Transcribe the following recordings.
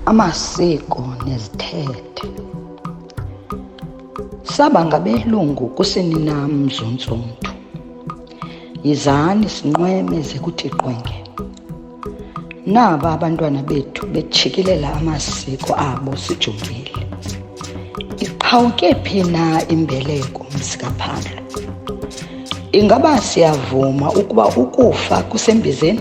amasiko nezithethe. Saba ngabelungu kusini na mzunzuntu. Yizani sinqweme ze kuthi qwenge. Naba abantwana bethu betshikilela amasiko abo sijongile. Iqhawuke phi na imbeleko msikaphando? Ingaba siyavuma ukuba ukufa kusembizeni?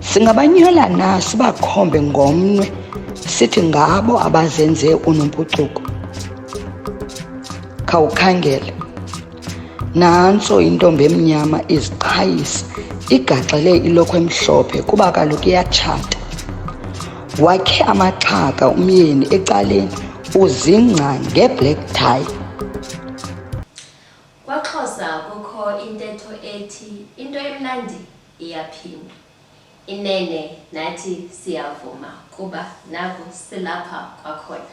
Singabanyhola na sibakhombe ngomnwe sithi ngabo abazenze unompucuko? Khawukhangele. Nantso intombi emnyama iziqhayisa igaxele ilokhwe emhlophe kuba kaloku iyatshata. Wakhe amaxhaka umyeni ecaleni uzingca nge-black tie. Kwaxhosa kukho intetho ethi into emnandi Iyaphinda. Inene nathi siyavuma kuba naku silapha kwakhona.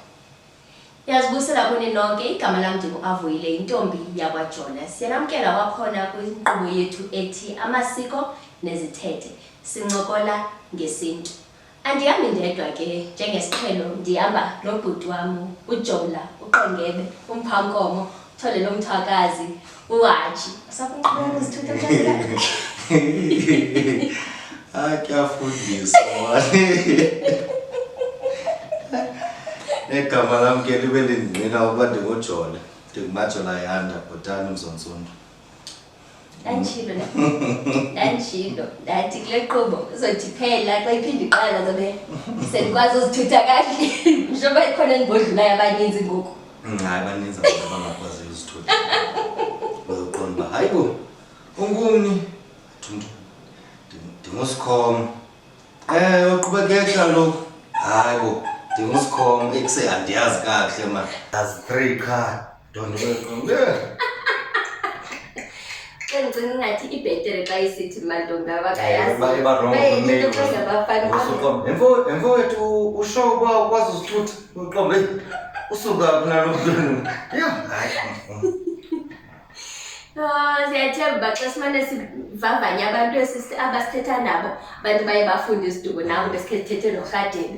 Ndiyazibusela kuni nonke, igama lam ndinguAvuyile, yintombi yakwaJola. Siyanamkela kwakhona kwinkqubo yethu ethi Amasiko Nezithethe, sincokola ngesiNtu. Andihambi ndedwa ke njengesiqhelo ndihamba nobhuti wam ujola uqongebe umphankomo uthole lo mthwakazi uhaji usakunqhubeka kuzithutha hayi kuyafundisa negama lam ke libe lindinqina ukuba ndingujola ndingumajola yanda bhotani mzonsundu ndandishilo ndandishilo ndathi kule qobo uzothi phela xa iphinde iqala zobe sendikwazi uzithutha kahle njengoba ikhona endibodlulayo abaninzi ngoku hayi baninzi abantu abangakwazi uzithutha uzoqonda uba hayi bo ungumni thumntu ndingusikhoma um uqhubekekha loku hayi bo ndingusikhoma ekuse andiyazi kakuhle ma azi three qha Donde lo esconde. Ke ndicinga ingathi ibhetere xa isithi mantombi abakayazi. Ba iba wrong Baye into male. phezu abafana. Usuqombe. Emfo emfo wethu usho uba ukwazi uzithutha. Uqombe. Usuka kunalo mntwana. Yho, hayi. Ah, siyathemba uba xa simane sivavanye abantu esisi- abasithetha nabo abantu baye bafunde isiduko nabo besikhe sithethe norhadebe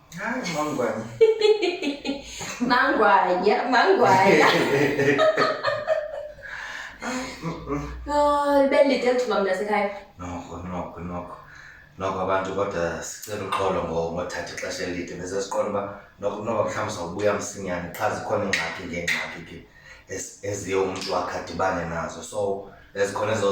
Mangwanya. Mangwanya, mangwanya. Oh, libe lide lithuba mntasekhaya. Noko, noko, noko. Noko abantu kodwa sicela uxolo ngothatha ixesha elide bese siqonda uba noko noba mhlawumbi sawubuya msinyane qha zikhona iingxaki ngeengxaki ke eziye umntu wakhe adibane nazo so ezikhona ezo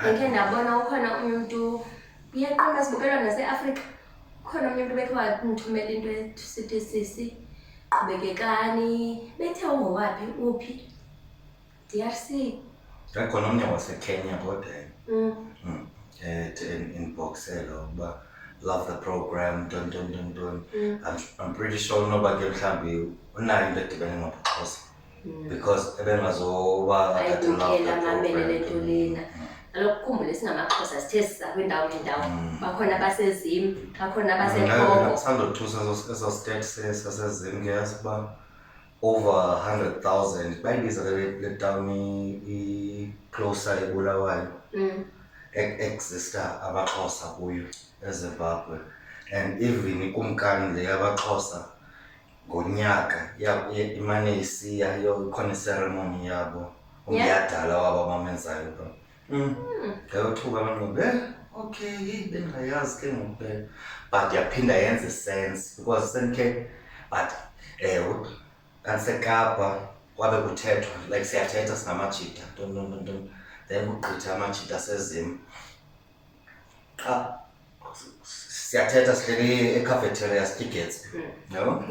ndikhe ndabona ukhona omnye umntu uyaqonda sibukela naseafrika ukhona omnye umntu bethe wandithumela into esithi sisi qhubekekani bethe ungowaphi uphi drc yakhona omnye wasekenya kodwa um inboxelo ukuba love the program ntoni ntoni ntoni ntoni i'm pretty sure unoba ke mhlawumbi unayo into edibene ngobuxhosa mm. because ebengazoba ayibukela amamele le nto lena kaloku khumbule singamaxhosa sithe siza kwiindawo ngeendawo mm. bakhona abasezim bakhona abasekongokusandothusa eso state sasezim ke yasiba over hundred thousand bayibiza le tawuni icloser ebulawayo mm. exista abaxhosa kuyo ezimbabwe and even ikumkani le yabaxhosa ngonyaka ya- ya- imane isiya yo ikhona iseremoni yabo umyadala wabo abamenzayo ba Mm. ngayothuka abanqobe eh okay yeyi bendingayazi ke ngoku ke but yaphinda yenze sense because sendikhe but ewe kandisekapa kwabe kuthethwa like siyathetha singamajita ntontontonton then kugqitha amajita sezim xa siyathetha sihleli ecafeteria sitya igetsby hmm. yabo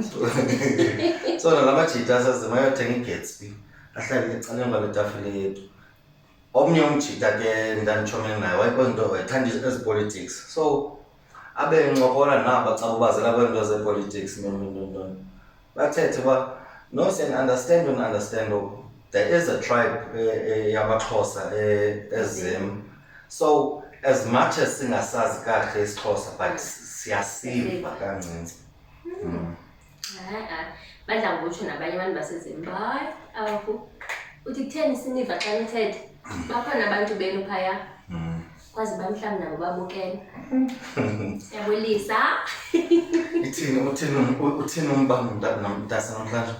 so nalabajita sazima yothenga igetsby ahlale ecaleni kwale tafile yethu omnye umjita ke ndanditshomele naye wayekwento ethanda ezi politics so abe ncokola naba xa ubazela kweento zepolitics nononontoni bathethe uba no siyandiunderstand undiunderstand oku there is a tribe eh, eh, yamaxhosa eh, ezim so as much as singasazi kakuhle isixhosa but siyasiva kancinci hmm. hmm. badla ngokutsho nabanye abantu basezim hayi awakho uthi kutheni siniva xa nithetha bakhona abantu benu phaya kwazi uba mhlawumbi nabo babukele siyabulisa ithini uthini uthini umbanga mntasa namhlanje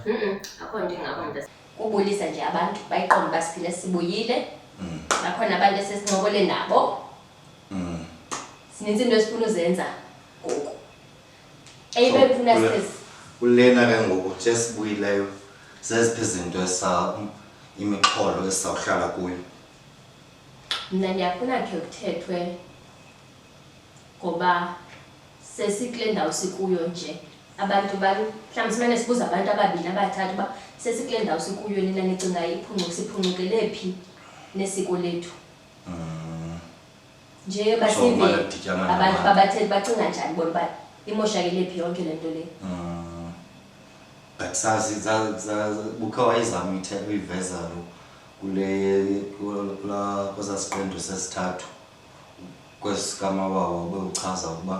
akho nto ingako mntasa kubulisa nje abantu bayiqonda uba siphile sibuyile mm. bakhona abantu esesincokole nabo mm. sininzi into esifuna uzenza ngoku eyibe kufuna siphezi kulena ke ngoku nje sibuyileyo zeziphi izinto esa imixholo esizawuhlala kuyo Mna ndiyafuna khe kuthethwe ngoba sesikule ndawo sikuyo nje abantu bani mhlawumbi simane sibuza abantu ababini abathathu uba sesikule ndawo sikuyo nina nicinga iphuncuka siphuncukelé phi nesiko lethu mm. nje basive abantu babathethe bacinga njani bona uba imoshakele phi yonke le nto le mm. but sazi bukhe wayezama uyiveza lo kwesaa siqendu sesithathu kwesi sikamabawo obewuchaza ukuba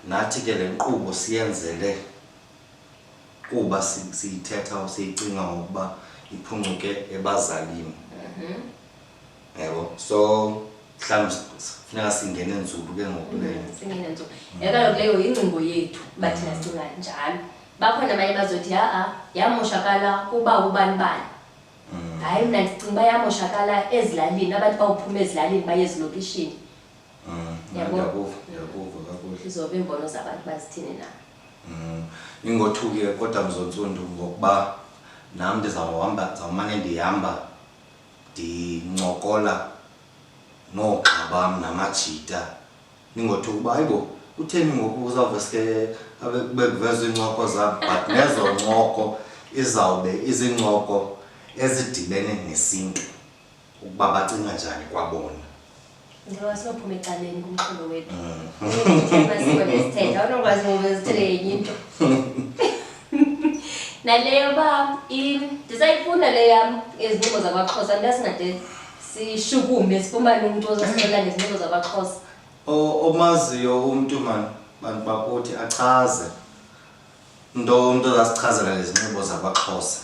nathi ke le nkqubo siyenzele kuba siyithetha siyicinga ngokuba iphuncuke ebazalini mhm. yebo so mhlawumbi funeka singene nzulu ke ngoku mm, leyo singene nzulu yeka yona leyo yingcingo yethu uba thina mm. sicinga njalo bakhona abanye bazothi ha-a yamoshakala kuba ubani bani mm. hayi mna ndicinga uba yamoshakala ezilalini abantu bawuphuma ezilalini baye ezilokishini izoba iimbono zabantu bazithini na ingothuke kodwa mzontsundu ngokuba nam ndizawuhamba ndizawumane ndihamba ndincokola noogxa bam namajita ndingothuka uba hayibo utheni ngoku uzawuveske kube kuvezwa iincoko zam but nezo ncoko izawube izincoko ezidibene nesintu ukuba bacinga njani kwabona njengoba sinophuma ecaleni kumxholo wethu masiko nesithetha unokwazi ngoba ezithele yenye into naleyo uba ndisayifunda le yam izinxibo zakwaxhosa nto singade sishukume sifumane umntu ozosixelela ngezinxibo zakwaxhosa omaziyo umntu mani bantu bakuthi achaze nto umntu ozasichazela ngezinxibo zakwaxhosa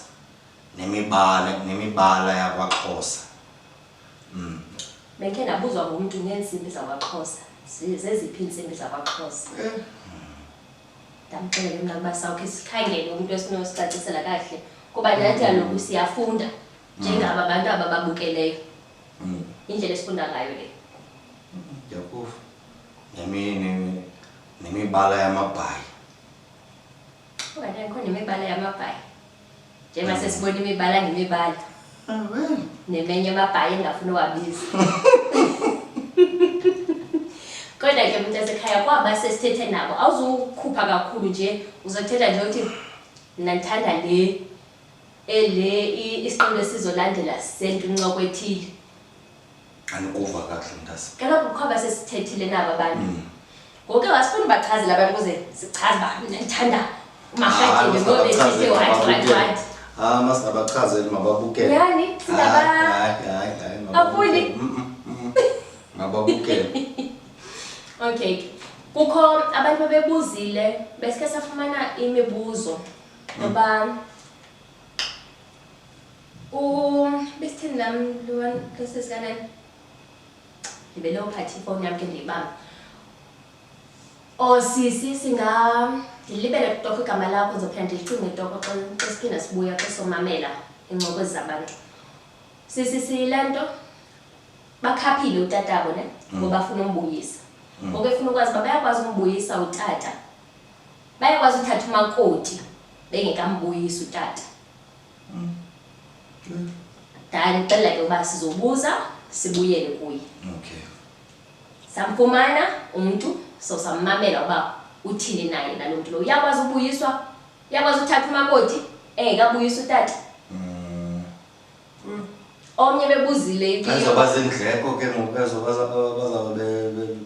nemibala nemibala yakwaxhosa Mm. Bendikhe ndabuzwa ngumntu ngeentsimbi zakwaXhosa. Zi- Zeziphi iintsimbi zakwaXhosa? Eh. Ndamxelela mna ukuba sawukhe sikhangele umntu esinosicacisela kahle kuba nathi kaloku siyafunda njengaba bantu aba babukeleyo. Mm. Indlela esifunda ngayo le. Ndiyakuva. Nemi nemi nemibala yamabhayi. Okanye akho nemibala yamabhayi. njengoba sesibona imibala ngemibala nemenye amabhayi engafuni uwabiza kodwa ke mntu asekhaya kwaba sesithethe nabo awuzukhupha kakhulu nje uzothetha nje uthi mna ndithanda le ele isiqondo esizolandela sentu ncoko ethile andikuva kakuhle mntase kelo kukho abasesithethile naba bantu mm. ngoke wasifuna ubachazela abantu ukuze sichaze uba mna ndithanda umarhatini ngobethithi whatwhatwhat ha masingabachazeli mababukele yani singabafuni mababukele okay kukho abantu babebuzile besike safumana imibuzo ngoba mm. ubesithini nam lona losesikanani ndibe nophatha ifowuni yam ke ndiyibamba o sisi singa ndilibele kutoko igama lakho ndizophinda ndilicinge toko xa siphinda sibuya xa somamela iincokwezi zabantu sisi sile nto bakhaphile utatabo ne mm. ngoba afuna umbuyisa mm. ngoku efuna ukwazi uba bayakwazi umbuyisa utata bayakwazi uthatha umakoti bengekambuyisi utata Mm. Good. Dala uxelela ke uba sizobuza sibuyele kuye. Okay. Samfumana umuntu so sammamela uba uthini naye nalo mntu lo. Uyakwazi ubuyiswa? Uyakwazi uthatha umakoti engekabuyisa utata? Mm. Mm. Omnye bebuzile impilo. Azoba zindleko ke ngoku azoba bazawube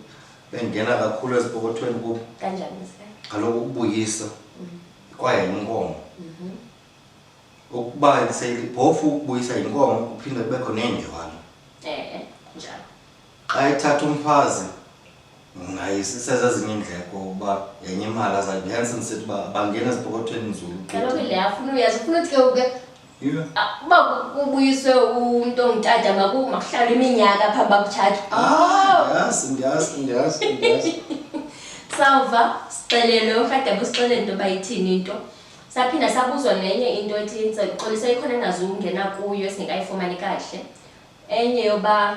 bengena kakhulu ezipokothweni kubo. Kanjani mse? Kaloku ukubuyisa. Mm. kwaye yinkomo mhm. ukuba seyilibhofu ukubuyisa yinkomo kuphinde kubekho neendywana eh, njalo xa ithatha umfazi nayisezezinye iindleko uba yenye imali azayibhensa ndisithi uba bangena ezipokothweni nzulu kaloku le afuna uyazi ufuna uthi ke uke Yilo. Uba kubuyiswe umntu ongutata maku- makuhlawule iminyaka phambi bakutshata Ah, ndiyazi, ndiyazi, ndiyazi, ndiyazi. sawuva sixelelwe urhadebe usixelele into yoba ithini into saphinda sabuzwa nenye into ethi ndixolisa ikhona engazuwungena kuyo esingekayifumani kahle enye yoba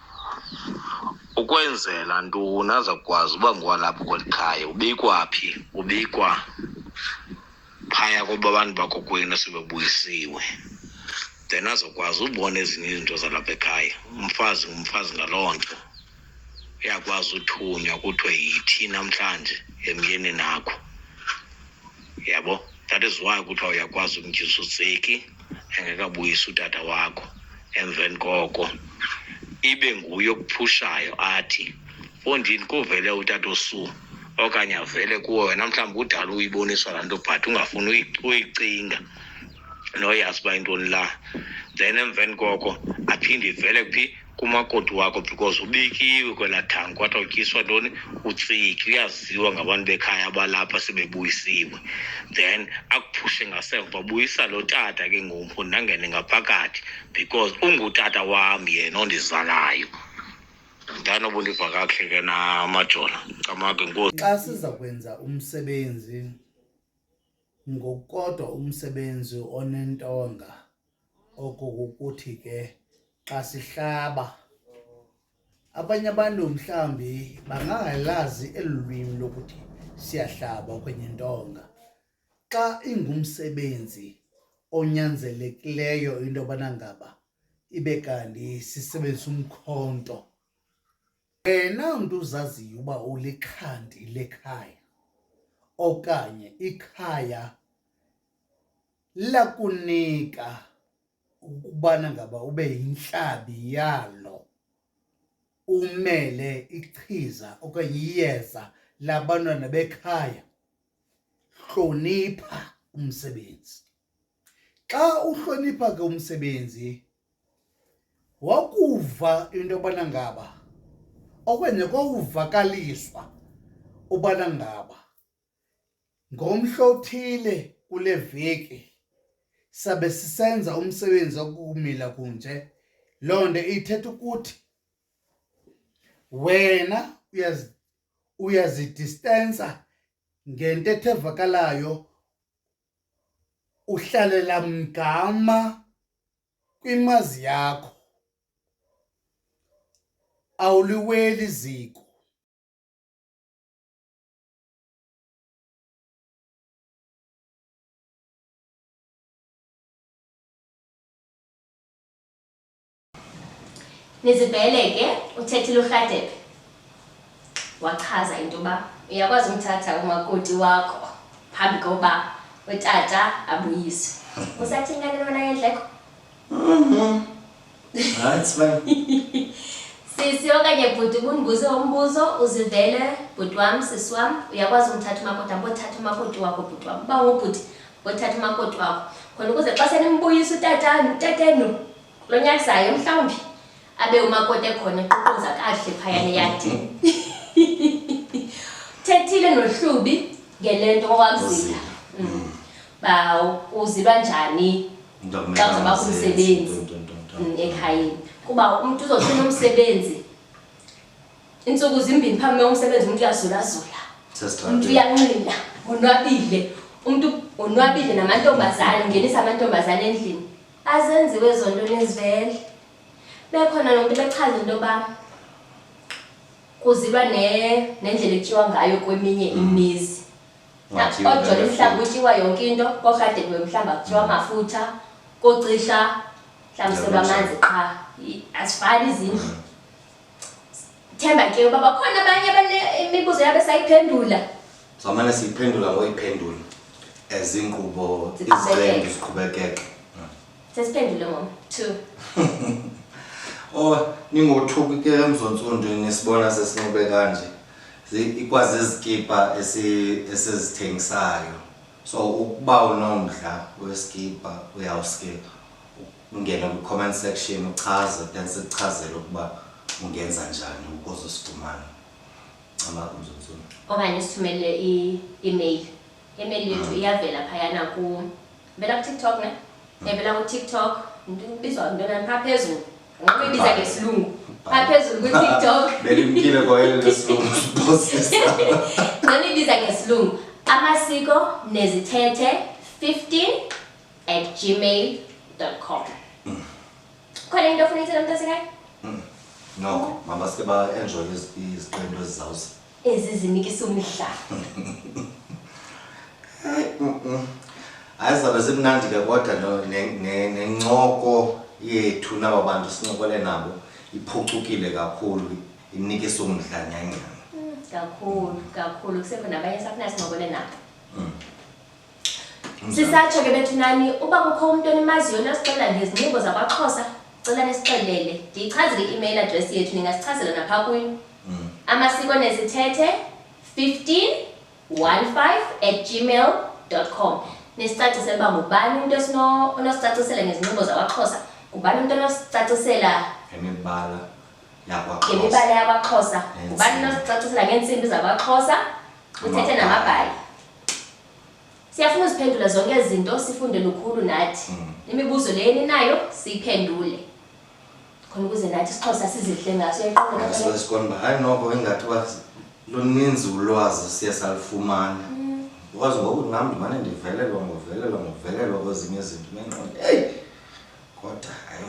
ukwenzela ntoni azakwazi uba ngowalapho kweli khaya ubikwa phi ubikwa phaya koba abantu bakokwenu sebebuyisiwe then azokwazi ubona ezinye izinto zalapha ekhaya umfazi ngumfazi ngaloo nto uyakwazi uthunywa kuthiwe yithi namhlanje emyeni nakho yabo that is why kuthiwa uyakwazi umtyisa utseki engekabuyisi utata wakho emveni koko ibe nguye okuphushayo athi fondini kuvele utata osu okanye avele kuwo wena mhlawumbi kudala uyiboniswa laa nto but ungafuni uyicinga noyazi uba intoni la then emveni koko aphinde ivele kuphi kumakoti wakho because ubikiwe kwela thangi kwathiwa utyiswa ntoni utsiki uyaziwa ngabantu bekhaya abalapha sebebuyisiwe then akuphushe ngasemva buyisa lo tata ke ngoku ndangene ngaphakathi because ungutata wam yena ondizalayo ndanobundiva kakuhle ke namajona camake nkosi xa siza kwenza umsebenzi ngokukodwa umsebenzi onentonga oko kukuthi ke xa sihlaba abanye abantu mhlawumbi bangangalazi eli lwimi lokuthi siyahlaba okwenye ntonga xa ingumsebenzi onyanzelekileyo into yobana ngaba ibe kanti sisebenzisa umkhonto wena mntu uzaziyo uba ulikhandi lekhaya okanye ikhaya lakunika ukubana ngaba ube yintlabi yalo umele ichiza okanye iyeza labantwana bekhaya hlonipha umsebenzi xa uhlonipha ke umsebenzi wakuva into yobana ngaba okwenye kwawuvakaliswa ubana ngaba Ngomhla othile kule veki sabe sisenza umsebenzi okumila kunje loo nto ithetha ukuthi wena uyazidistensa ngentetho evakalayo uhlalela mgama kwimazi yakho awuliweli iziko nizibhele ke uthethile urhadebe wachaza into yoba uyakwazi umthatha umakoti wakho phambi koba utata abuyiswe usathini kanti lona yendleko mm-hmm. Right, smile. Sisi okanye bhuti ubundibuze umbuzo uzivele bhuti wam sisi wam uyakwazi umthatha umakoti hamba othatha umakoti wakho bhuti wam uba ngubhuti othatha umakoti wakho khona ukuze xa senimbuyisa utatanu utatenu lo nyaka zayo mhlawumbi abe umakoti ekhona eququza kakuhle phayana eyadini thethile nohlubi ngele nto owamzila mm. uba uzilwa njani xa uzobakho umsebenzi mm, ekhayeni kuba umntu uzofuna umsebenzi iintsuku zimbini phambi me umsebenzi umntu uyazulazula umntu uyanxila onwabile umntu onwabile namantombazane ungenisa amantombazane endlini azenziwe ezo nto nezivele bekhona lo mntu bechaza into yoba kuzilwa nendlela ekutyiwa ngayo kweminye imizi ojola mhlawumbi kutyiwa yonke into korhade kuwe mhlawumbi akutyiwa mm. amafutha kocisha mhlawumbi selwa amanzi qha asifani izindlu mm. themba ke uba bakhona abanye abanemibuzo yabe sayiphendula samane siyiphendula ngoyiphendula ezinkqubo iziqendu ziqhubekeke sesiphendule ngom two o oh, ningothuki ke emzontsundu nisibona sesinxibe kanje ikwazizikipa esizithengisayo so ukuba unomdla wesikipa uyawuske ungene kwi-comment section uchaze then sikuchazele ukuba ungenza njani ukuze usifumane amakumzunzulu okanye sithumele i-email email yethu mm. iyavela phayana ku vela kutiktok ne mm. evela kutiktok ndibizwa ntona phaa phezulu Ngokubiza ngesilungu. Ngaphezulu ku-TikTok. Belimkile kwa yena lesilungu sibosisa. Ngokubiza ngesilungu. Amasiko nezithethe 15 at gmail.com. Khona into ofuna ithela mntasekhaya? Noko, mabasike ba-enjoye iziqendu ezizawuza. ezizinikisa umdla hayi zabe zimnandi ke kodwa no- ne- ne- nencoko yethu naba bantu sincokole nabo iphucukile kakhulu inikisa umdla nyanyana kakhulu kakhulu kusekhona abanye safunasincokole nabo sisatsho ke bethunani uba kukho umntu onimaziyo nosixelela ngezinxibo zakwaxhosa cela nisixelele ndiyichazele i-email address yethu ningasichazela napha kuyo mm. amasiko nezithethe 15 15 at gmail com nisicacisele uba ngubani umntu onosicacisela ngezinxibo zakwaxhosa ngubani umntu onosicacisela ngemibala ngemibala yakwaxhosa ngubani onosicacisela ngeentsimbi zakwaxhosa uthethe namabhayi siyafuna uziphendula zonke ezi zinto sifunde lukhulu nathi mm. imibuzo le eninayo siyiphendule khona ukuze nathi isixhosa sizihle ngaso yaqoqasikona uba hayi noko ingathi uba luninzi ulwazi siye salufumana mm. because ngoku nam ndimane ndivelelwa ngovelelwa ngovelelwa kwezinye izinto nenqondo eyi kodwa hayi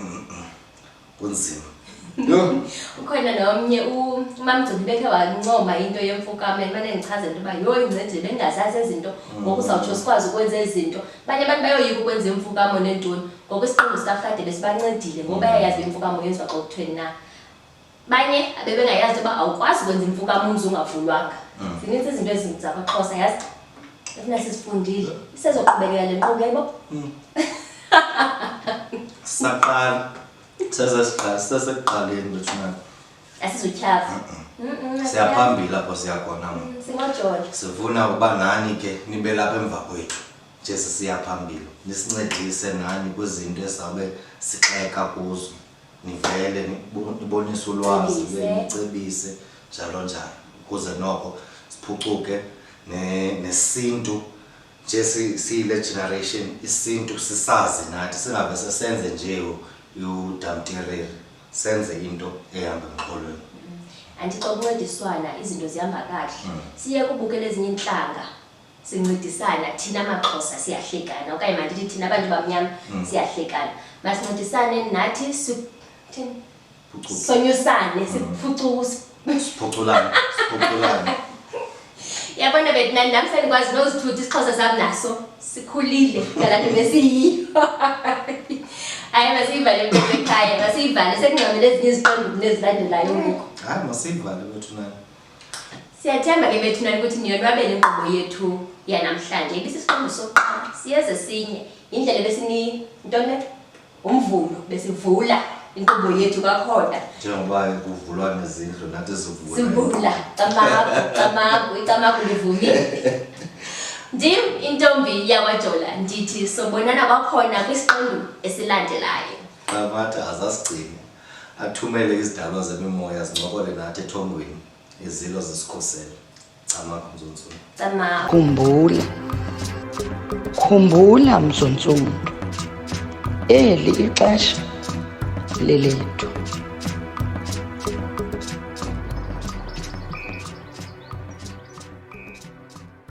kunzima ukhona nomnye umamgcini bekhe wancoma into yemfukame mane ndichaze into yoba yho incedile bengazazi ezinto mm. ngoku uzawutsho sikwazi ukwenza ezinto abanye abantu bayoyika ukwenza imfukamo neentoni ngoku isiqingo sikafade besibancedile ngoba mm. yayazi imfukamo yenziwa xa kuthweni na banye abebengayazi uba awukwazi ukwenza imfukamo umzi ungavulwanga mm. zininzi izinto ezizakwaxhosa yazi Ufuna sisifundile. Sisezoqhubekela le nkqubo yebo. Hmm. Saqala. Sasa siqala, sasa siqaleni bethu na. Asizotyhafa. Mhm. Siyaphambili apho siya khona ngoku. Mm, Singojola. Sifuna uba nani ke nibe lapha emva kwethu. Jesu siyaphambili. Nisincedise nani kwizinto esizawube sixeka kuzo. nivele nibonise ulwazi nicebise njalo njalo ukuze noko siphucuke nesintu nje siyile generation isintu sisazi nathi singabe sesenze nje udamtireri senze into ehamba emxholweni mm. andixokuncediswana izinto zihamba kahle mm. siye kubukela ezinye intlanga sincedisana thina maxhosa siyahlekana okanye mandithi thina abantu bamnyama mm. siyahlekana masincedisane nathi sonyusane siphucukusiphuculane yabona bethi nani nam sendikwazi nozithuthi isixhosa sam naso sikhulile ngalanto besiyiyo hayi masiyivale ekhaya masiyivale sekungcamele ezinye iziqonduku nezilandelayo ngoku hayi masiyivale bethu nani Siyathemba ke bethuna ukuthi niyonwabela inkqubo yethu yanamhlanje. Ibisisiqendu sokuqala siyeze sinye yindlela besini ntone umvulo besivula inkqubo yethu kakhona. Njengoba kuvulwa nezindlu nathi sivula. Sivula camagu camagu icamagu livumile. Ndim intombi yakwajola ndithi sobonana kwakhona kwisiqendu esilandelayo. Qamatha azasigcini. Athumele izidalwa zemimoya zincokole nathi ethongweni, izilo zisikhusele. Camakho mzontsulu. Camakho. Khumbula. Khumbula mzontsulu. Eli ixesha lelethu.